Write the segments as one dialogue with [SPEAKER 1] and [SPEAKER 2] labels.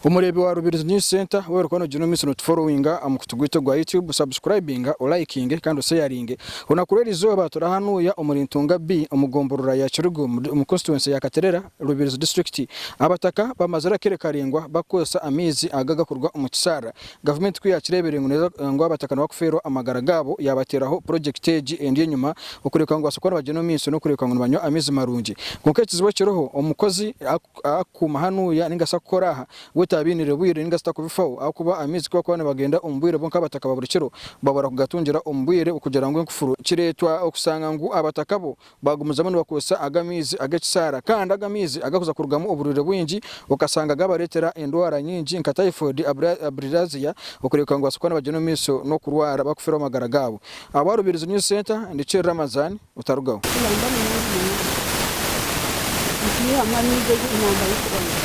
[SPEAKER 1] Omureebi wa Rubirizi News Centre weena orikuba noogira omu maisho nootuforowinga aha mukutu gwaitu ogwa YouTube, sabusikurayibinga, olayikinge kandi osheyaringe. Orunaku rw'erizooba turi ahanuuya omuri Ntunga B omu gomborora ya Kiruga omu konsituwensi ya Katerera, Rubirizi disiturikiti. Abataka bamazire akaire karaingwa bakukoresa amaizi aga agakuruga omu kisharara Gavumenti ku yaakireebire ngu neeza ngu abataka nibo bakufeerwa amagara gaabo, yaabateeraho purojekiti egi endi enyima okureebeka ngu babaase kuba nibagyenda omu maisho n'okureebeka ngu nibanywa amaizi marungi. Kwonka ekizibu ekiriho, omukozi akukuuma hanuuya nainga shi akukora aha, we taabainiire bwire nainga shi takubifaho ahakuba amaizi ku bakuba nibagenda omu bwire bo nk'abataka ba buri kiro, babura kugatungira omu bwire kugira ngu enkufuru. Kireetwa okushanga ngu abataka bo Baagumizamu nibakozesa aga maizi ag'ekisaara kandi aga maizi agakuza kurugamu oburwire bwingi okashanga gaabareetera endwara nyingi nka typhoid, bilharzia, okureebeka ngu nibabaasa kuba nibagyenda omu maisho n'okurwara bakufiraho amagara gaabo. Ahabwa Rubirizi News Centre, ndi Cheri Ramazan, Butarugaho. Tuyamba munonga munonga nitwihamu amaizi agu namba y'okubanza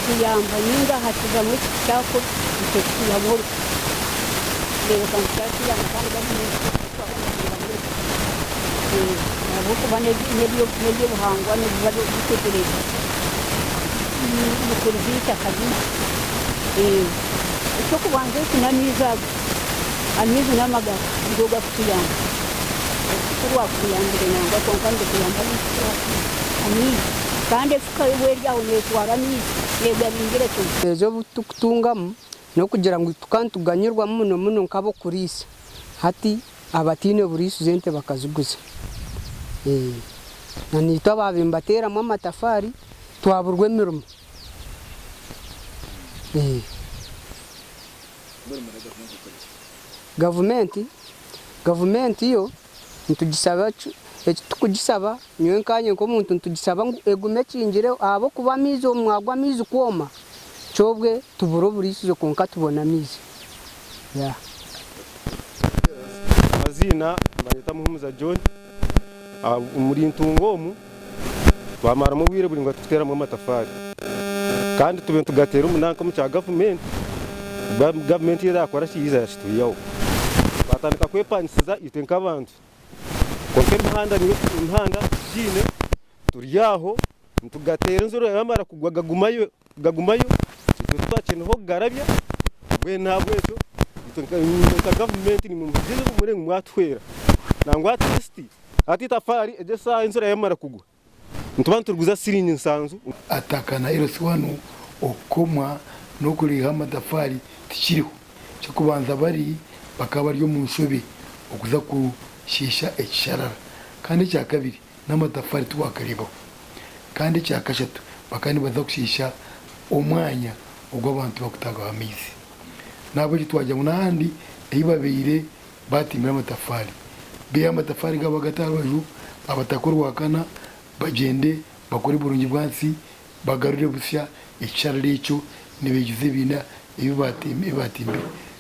[SPEAKER 1] kutuyamba nainga haakizamu ekiti kyakura nikyo kitwihamu orukuta kureebeka ngu kyatuyamba kandi gari maizi g'okunywa. ahabw'okuba n'eby'obuhangwa nibiba biteekyereze bikurize eitaka ryaitu. Eky'okubanza eki n'amaizi aga, amaizi n'amagara nigo garikutuyamba. Orufuka orwakutuyambire nangwa kwonka nirukuyamba amaizi kandi efuka yoba eri aho neetwara amaizi, neegabiingire kimwe. Obutukutungamu N'okugira ngu tuka nituganyirwamu muno muno nk'ab'okuriisa, hati abataine buriisize ente bakaziguza. Ee, na naitwe abaabaire nibateeramu amatafaari twaburwa emirimo. Ee. Mbwenu muragavumenti ekore ki? Gavumenti, gavumenti yo. Nitugisaba ki? Eki tikugisaba, nyowe nkanye nk'omuntu nitugisaba ngu egume ekingireho ahabw'okuba amaizi obu mwagwa amaizi kwoma kyobwe tubura oburiisizo kwonka tubona amaizi. Amaziina, banyeta Muhumuza John, omuri Ntunga omu. twamaramu obwire buraingwa tukuteeramu amatafaari kandi tube nitugateera omu nanka omu kya gavumenti, gavumenti yo yaakora ki? Yaiza yakitwihaho. Twatandika kwepangisiza itwe nk'abantu kwonka emihanda niyo emihanda tigiine, turi aho nitugateera enjura yaamara kugwa gagumayo. gagumayo itwe titwakyineho kugarabya mbwenu ahabwekyo itwe nka gavumenti nimwe muhikiriza obumuri ngu mwatuhwera nangwa atirisiti hati itafaari egi eshaaha enshura yamara kugwa nituba nituriguza shiringi nshanju. Ataka na LC wanu okukomwa n'okureeha amatafaari tikiriho. Eky'okubanza bari bakaba bari omu nshobe okuza kushiisha ekisharara kandi ekyakabiri n'amatafaari tiwaakareebaho, kandi ekya kashatu bakaba nibaza kushiisha omwanya ogu abantu bakutaagaho amaizi. N'ahabw'ekyo twagira ngu n'ahandi ei babaire baatimbire amatafaari, beihe amatafaari gaabo bagate aha rubaju, Abataka Orwakana bagyende bakore burungi bwansi bagarure busya ekisharara ekyo nibaijuza ebiina ebi baatimbire.